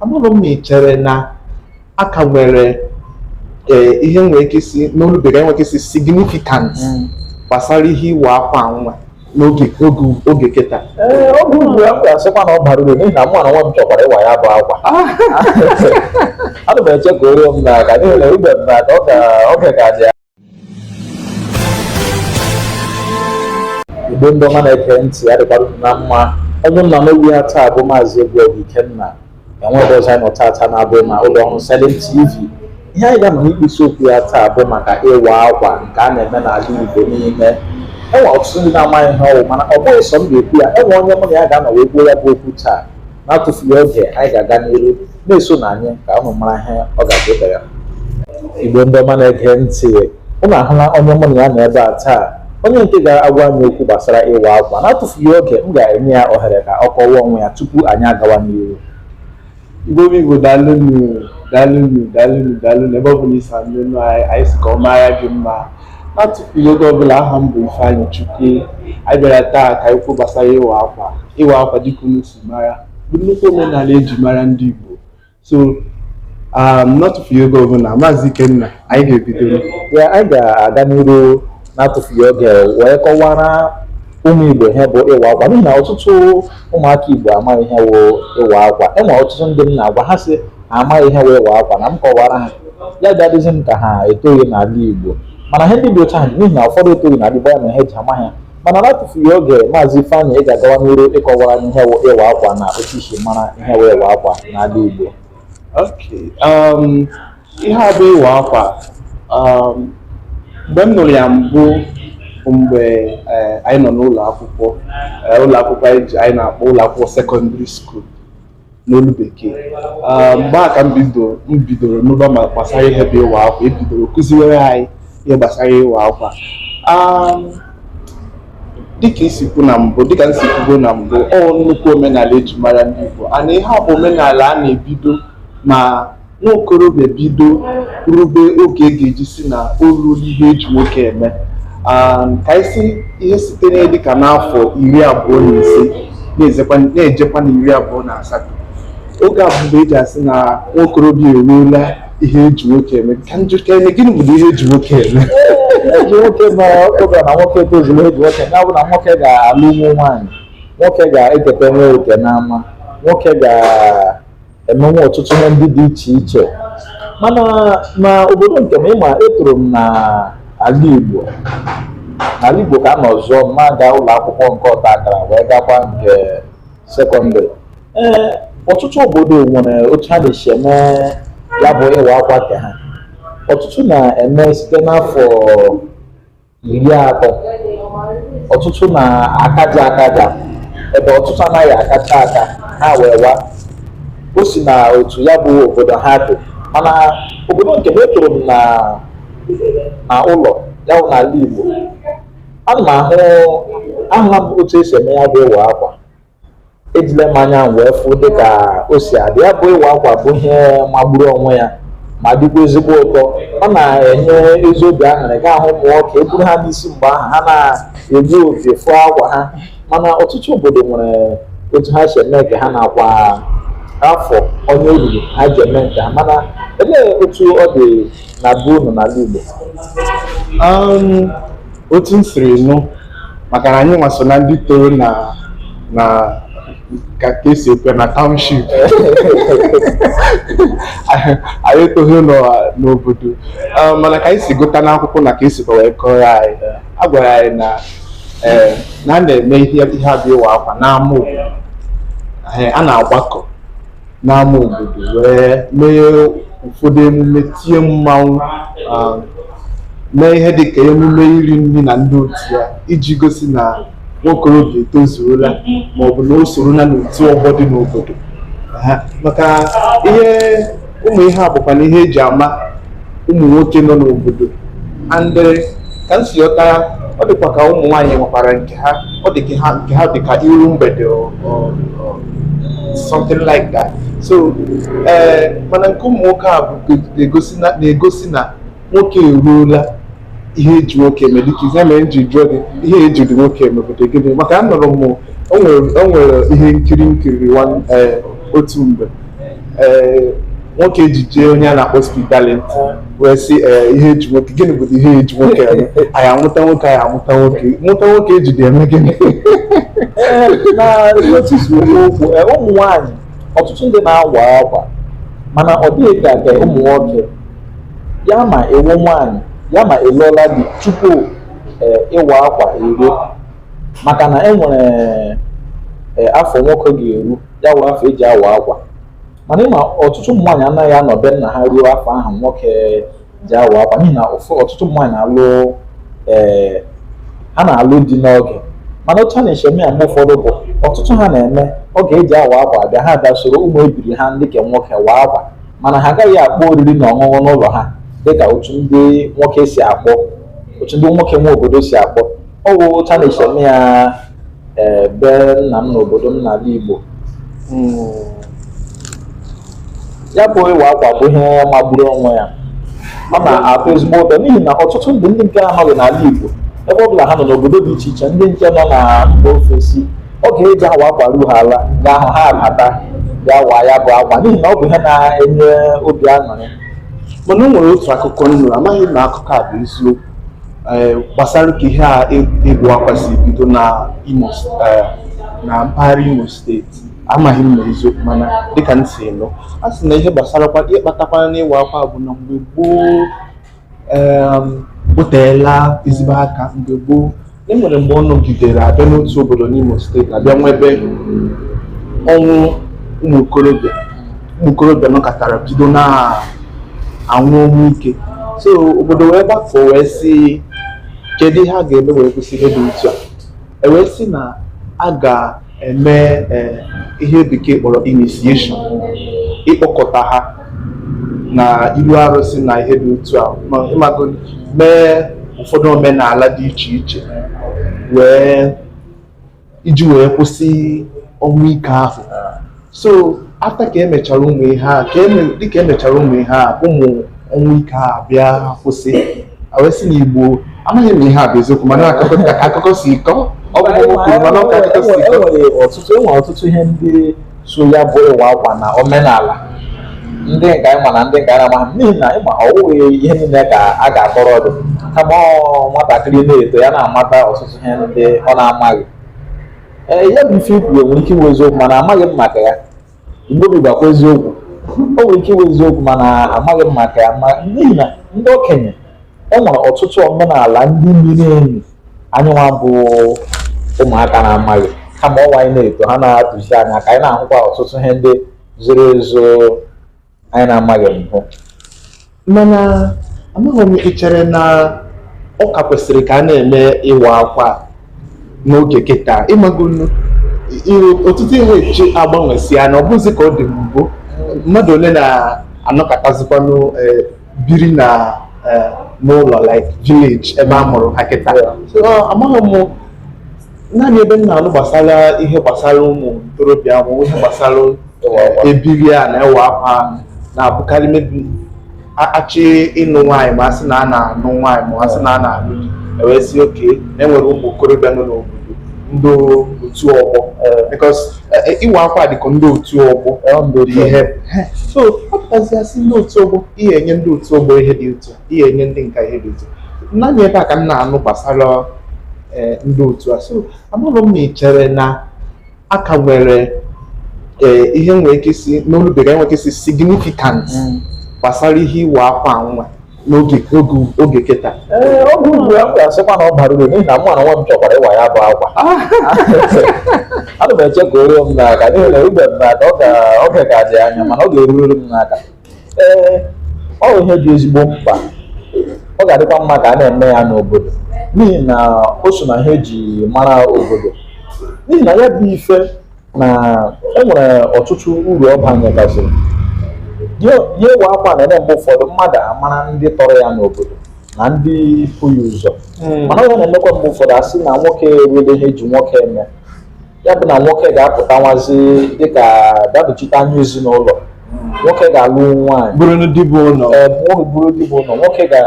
amaghị m ma ị chere na a ka nwere ee, ihe nwere ike ịsị n'olu bekee nwere ike ịsị significant gbasara ihe ịwa akwa nwa n'oge oge oge kịta ee oge ugbu a m ga-asịkwa na ọ bara uru n'ihi na mụ n'onwe m chọkwara ịwa ya bụ akwa ana m eche ka o ruo m n'aka n'ihi na o rube m n'aka ọ ga- ọ ga-adị ya igbo ndị ọma na-ege ntị ya dịkwara unu mma onye unu na-anụ olu ya taa bụ maazị egwuọgụ ikenna enweghị ebe ọzọ anyị nọ taata na-abụghị n'ụlọ ọrụ Silent TV ihe anyị ga-anọ n'ikpisi okwu ya taa bụ maka ịwa akwa nke a na-eme n'ala igbo niile enwe ọtụtụ ndị na-amaghị ihe ọ wụ mana ọ bụghị sọ m ga-ekwu ya enwe onye mụ na ya ga-anọ wee kwuo ya bụ okwu taa n'atụfughị oge anyị ga-aga n'iru na-esonụ anyị ka ụnụ mara ihe ọ ga-abụ taa igbo ndị ọma na-ege ntị ụnụ ahụla onye mụ na ya nọ ebe a taa onye nke ga-agwa anyị okwu gbasara ịwa akwa n'atụfughị oge m ga-enye ya ohere ka ọ kọwaa onwe ya tupu anyị agawa n'iru igbo bụ igbo daalụnụ daalụnụ daalụnụ daalụnụ ebe ọ bụla i si anụ anyị sị ka ọ mara gị mma N'atụfughị oge ọbụla aha m bụ Ifeanyị Chukwu anyị bịara taa ka anyị kwuo gbasara ịwa akwa ịwa akwa dịka unu si mara bụ nnukwu omenala eji mara ndị Igbo so um, n'atụfughị oge ọbụla maazị Ikenna anyị ga-ebido ya anyị ga-aga n'iru n'atụfughị oge wee kọwara ụmụ Igbo ihe bụ ịwa akwa n'ihi na ọtụtụ ụmụaka Igbo amaghị ihe wụ ịwa akwa enwere ọtụtụ ndị m na-agwa ha sị ha amaghị ihe wụ ịwa akwa na m kọwara ha ya ga-adịzi m ka ha etoghị n'ala Igbo mana ihe ndị dị otu ahụ n'ihi na ụfọdụ etoghị n'ala Igbo ya na ha eji ama ha mana n'atụfughị oge maazị Ifeanyị ị ga-agawa n'iru ịkọwara anyị ihe wụ ịwa akwa na otu i si mara ihe wụ ịwa akwa n'ala Igbo um, ihe a bụ ịwa akwa um, mgbe m nụrụ ya mbụ mgbe eh, anyị nọ n'ụlọ akwụkwọ eh, ụlọ akwụkwọ anyị na-akpọ ụlọ akwụkwọ sekọndịrị skuul n'olu bekee ah, mgbe a ka m bidoro nụba ma gbasara ihe bụ ịwa akwa ebidoro kụziwere anyị ihe gbasara ịwa akwa ah, dịka i si kwuo na mbụ dịka m si kwuo na mbụ ọ nnukwu omenala eji mara ndị Igbo and ihe a bụ omenala a na-ebido ma Nwa okorobịa bido rube oge e ga-eji sị na o ruola ihe eji nwoke eme ka anyị sị isite na dịka n'afọ iri abụọ na ise na-ejekwa na iri abụọ na asatọ oge a bụ mgbe eji asị na nwa okorobịa eruola ihe eji nwoke eme ka m jụkwa eme gịnị bụ ihe eji nwoke eme eji nwoke ma oge na nwoke tozuru eji nwoke eme bụ na nwoke ga-alụnwu nwaanyị nwoke ga-eketanwu oke n'ama nwoke ga emenwe ọtụtụ ihe ndị dị iche iche mana na obodo nke m ịma etoro m na ala Igbo n'ala Igbo ka a nọ zụọ m na-aga ụlọ akwụkwọ nke ọta akara wee gakwa nke sekọndịrị ee ọtụtụ obodo nwere otu ha na-esi eme ya bụ ịwa akwa nke ha ọtụtụ na-eme site n'afọ iri atọ ọtụtụ na-akaja akaja ebe ọtụtụ anaghị akacha aka ha wee wa o si na otu ya bụ obodo ha dị mana obodo nke m etoro m na na ụlọ ya bụ n'ala Igbo ana m ahụ ahụla m otu esi eme ya bụ ịwa akwa ejile m anya wee fụ dịka o si adị ya bụ ịwa akwa bụ ihe magburu onwe ya ma dịkwa ezigbo ụtọ ọ na-enye ezi obi aṅụrị ị ga-ahụ ụmụ nwoke eburu ha n'isi mgbe ahụ ha na-eji opi fụọ akwa ha mana ọtụtụ obodo nwere otu ha si eme nke ha nakwa afọ onye oriri ha ji eme nke ha mana elee otu ọ dị na be unu n'ala Igbo otu m siri nụ maka na anyị nwa so na ndị toro na na ka ka esi ekwu na township anyị etoghị n'ọ- n'obodo Ah, mana ka anyị si gụta n'akwụkwọ na ka esikwa wee kọrọ anyị a gwara anyị na eh, na a na-eme ihe ihe a bụ ịwa akwa n'ama obodo Eh, a na-agbakọ n'ama obodo wee mee ụfọdụ emume tie mmanwụ ah, mee ihe dịka emume iri nri na ndị otu ya iji gosi na nwokorobịa etozuola maọbụ na o sorola n'otu ọgbọ dị n'obodo Ha, maka ihe ụmụ ihe a bụkwanụ ihe eji ama ụmụ nwoke nọ n'obodo and eh, ka m si ghọta ya ọ dịkwa ka ụmụ nwaanyị nwekwara nke ha ọ dị ka ha nke ha dị ka iru mgbede or, or, or something like that so ee mana nke ụmụ nwoke a bụ na-egosi na na-egosi na nwoke eruola ihe eji nwoke eme dịka ihe mere m ji jụọ gị ihe ejidị nwoke eme ọ bụdị gịnị maka anụrụ m o nwere o nwere ihe nkiri m kiri nwa- ee, otu mgbe ee nwoke ejije onye a na-akpọ Speed Darlington wee sị ee ihe eji nwoke gịnị bụ ihe eji nwoke eme anyị amụta nwoke anyị amụta nwoke mụta nwoke ejidị eme gịnị Ee, na otu si okwu okwu ee, ụmụ nwaanyị ọtụtụ ndị na-awa akwa mana ọ dịghị ka nke ụmụ nwoke ya ma ị wụ nwaanyị ya ma alụọla di tupu ee, ịwa akwa eruo maka na e nwere ee, afọ nwoke ga-eru ya awụrụ afọ eji awa akwa mana ịma ọtụtụ ụmụ nwaanyị anaghị anọ be nna ha ruo afọ ahụ nwoke ji awa akwa n'ihi na ọtụtụ ụmụ nwaanyị na-alụ ee eh, ha na-alụ di n'oge mana otu a na-esi eme ya mgbe ụfọdụ bụ ọtụtụ ha na-eme oge eji awa akwa abịa ha bịa soro ụmụ ebiri ha ndị ke nwoke waa akwa mana ha agaghị akpọ oriri na ọṅụṅụ n'ụlọ ha dịka otu ndị nwoke si akpọ otu ndị nwoke nwe obodo si akpọ ọ bụ otu a na-esi eme ya ee be nna m n'obodo m n'ala Igbo ya bụ ịwa akwa bụ ihe magburu onwe ya ọ na-atọ ezigbo ụtọ n'ihi na ọtụtụ ndị ndị nke anọghị n'ala Igbo ebe ọ bụla ha nọ n'obodo dị iche iche ndị nke nọ na mba ofesi oge eji awa akwa ruo ha ala ga-ahụ ha abata bịa waa ya bụ akwa n'ihi na ọ bụ ihe na-enye obi aṅụrị mana o nwere otu akụkọ m nụ amaghị m na akụkọ a bụ eziokwu Eh, gbasara ka ihe a ịwa akwa si bido na imo eh, na mpaghara imo steeti amaghị m ma eziokwu mana dịka m si nụ a sị na ihe gbasara ihe kpatakwana n'ịwa akwa bụ na mgbe gboo oteela ezigbo aka mgbe gboo e nwere mgbe ọ nọgidere a bịa n'otu obodo n'Imo steeti a bịa nwebe ọnwụ ụmụ okorobịa ụmụ okorobịa nọkatara bido na-anwụ ọnwụ ike so obodo wee gbakọ wee sị kedu ihe a ga-eme wee kwụsị ihe dị otu a e wee sị na a ga eme eh, ihe bekee kpọrọ initiation ịkpọkọta ha na iru arụsị na ihe dị otu a ịmago mee ụfọdụ omenala dị iche iche wee iji wee kwụsị ọnwụ ike ahụ so after ka emechara ụmụ ihe a ka eme dịka emechara ụmụ ihe a ụmụ ọnwụ ike a bịa kwụsị e wee sị na igbo amaghị m ma ihe a bụ eziokwu mana akụkọ ka akụkọ si kọ ọ bụ ọgwụ kwuru mana ọ ka akụkọ si kọ enwere ọtụtụ enwere ọtụtụ ihe ndị so ya bụ ịwa akwa na omenala ndị nke anyị ma na ndị nke anyị amaghị n'ihi na ịma ọwụghị ihe niile ka a ga-akọrọ mmadụ kama ọ nwatakịrị na-eto ya na-amata ọtụtụ ihe ndị ọ na-amaghị ee ya bụ ife i kwuru nwere ike ịwụ eziokwu mana amaghị m maka ya mgbe obi gwakwa eziokwu o nwere ike ịwụ eziokwu mana amaghị m maka ya n'ihi na ndị okenye e nwere ọtụtụ omenala ndị miri emi anyịnwa bụ ụmụaka na-amaghị kama ọnwa anyị na-eto ha na-atụzi anyị aka anyị na-ahụkwa ọtụtụ ihe ndị zoro ezo anyị na-amaghị mbụ mana amaghị m i chere na ọ ka kwesịrị ka a na-eme ịwa akwa n'oge kịta ịmagonu ọtụtụ ihe echi agbanwesịa na ọ bụzi ka ọ dị mbụ mmadụ ole na-anọkọtazikwanụ eh, biri na eh, n'ụlọ like village ebe a mụrụ ha kịta So, ah, amaghị m naanị ebe m na-anụ gbasara ihe gbasara ụmụ ntorobịa ahụ ihe gbasara eh, ebiri a na ịwa akwa na-abụkarị maybe a- achọ ịnụ nwaanyị ma a sị na a na-anụ nwaanyị ma a sị na a na-anụ di ewee sị okay na enwere ụmụ okorobịa nọ n'obodo ndị otu ọgbọ because ịwa akwa dịka ndị otu ọgbọ ihe so ọ pụtazie a sị ndị otu ọgbọ ihe enye ndị otu ọgbọ ihe dị otu a ihe enye ndị nke a ihe dị otu a naanị ebe a ka m na-anụ gbasara e, ndị otu a so amaghị m na ị chere na a ka nwere e, ihe nwere ike ịsị n'olu bekee nwere ike ịsị significant mm. gbasara ihe ịwa akwa nwa n'oge oge oge kịta ee oge ugbu a m ga-asịkwa na ọ bara uru n'ihi na mụ n'onwe m chọkwara ịwa ya bụ akwa ana m eche ka o ruo m n'aka n'ihi na o rube m n'aka ọ ga- oge ka dị anya mana ọ ga-eruriri m n'aka ee ọ bụ ihe dị ezigbo mkpa ọ ga-adịkwa mma ka a na-eme ya n'obodo n'ihi na o so na ihe eji mara obodo n'ihi na ya bụ ife na e nwere ọtụtụ uru ọ banyegasịrị ya ịwa akwa na-eme mgbe ụfọdụ mmadụ amara ndị tọrọ ya n'obodo na ndị bu ya ụzọ hmm. mana ọ na-emekwa mgbe ụfọdụ asị na nwoke erule ihe e ji nwoke eme ya bụ na nwoke ga-apụtanwuzi dịka ga-adochite anya ezinụlọ nwoke ga-alụnwu nwaanyị bụrụ dibiụlọ nwoke ga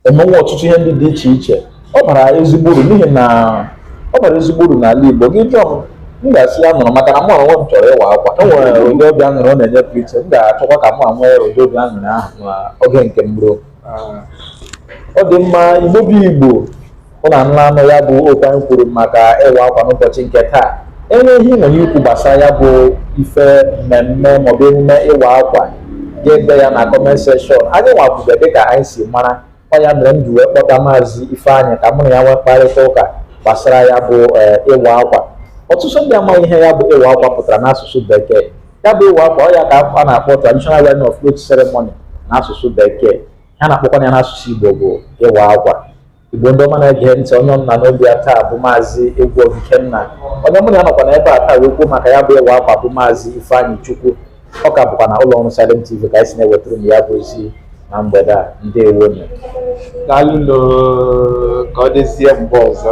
emenwu ọtụtụ ihe ndị dị iche iche ọ bara ezigbo uru n'ihi na ọ bara ezigbo uru n'ala Igbo gị jụọ m m ga-asị ya nọrọ maka na mụ onwe m chọrọ ịwa akwa e nwere ụdị obi aṅụrị ọ na-enye pụrụ iche m ga-achọkwa ka mụ nwee ụdị obi aṅụrị ahụ oge nke m ruo ah. ọ dị mma Igbo bụ Igbo unu anụla ya bụ okwu anyị kwuru maka ịwa akwa n'ụbọchị nke taa e nwere ihe i nwere ikwu gbasara ya bụ ife mmemme maọbụ emume ịwa akwa gaa dee ya na comment section anyị nwakwube dịka anyị si mara ọ ya mere m ji wee kpọta maazị Ifeanyị ka mụ na ya nwee mkparịta ụka gbasara ya bụ eh, ịwa akwa ọtụtụ ndị amaghị ihe ya bụ ịwa akwa pụtara n'asụsụ bekee ya bụ ịwa akwa ọ ya ka a na-akpọ traditional wearing of clothes ceremony n'asụsụ bekee a na-akpọkwa ya n'asụsụ Igbo bụ ịwa akwa Igbo ndị ọma na-ege ntị onye unu na-anụ olu ya taa bụ maazị Egwu Obikenna onye mụ na ya nọkwa na ebe a taa wee kwuo maka ya bụ ịwa akwa bụ maazị Ifeanyịchukwu ọ ka bụkwa na ụlọ ọrụ Silent TV ka anyị si na-ewetara unu ya bụ ozi na mgbede a ndewo nụ daalụ nụ ka ọ dịzie mgbe ọzọ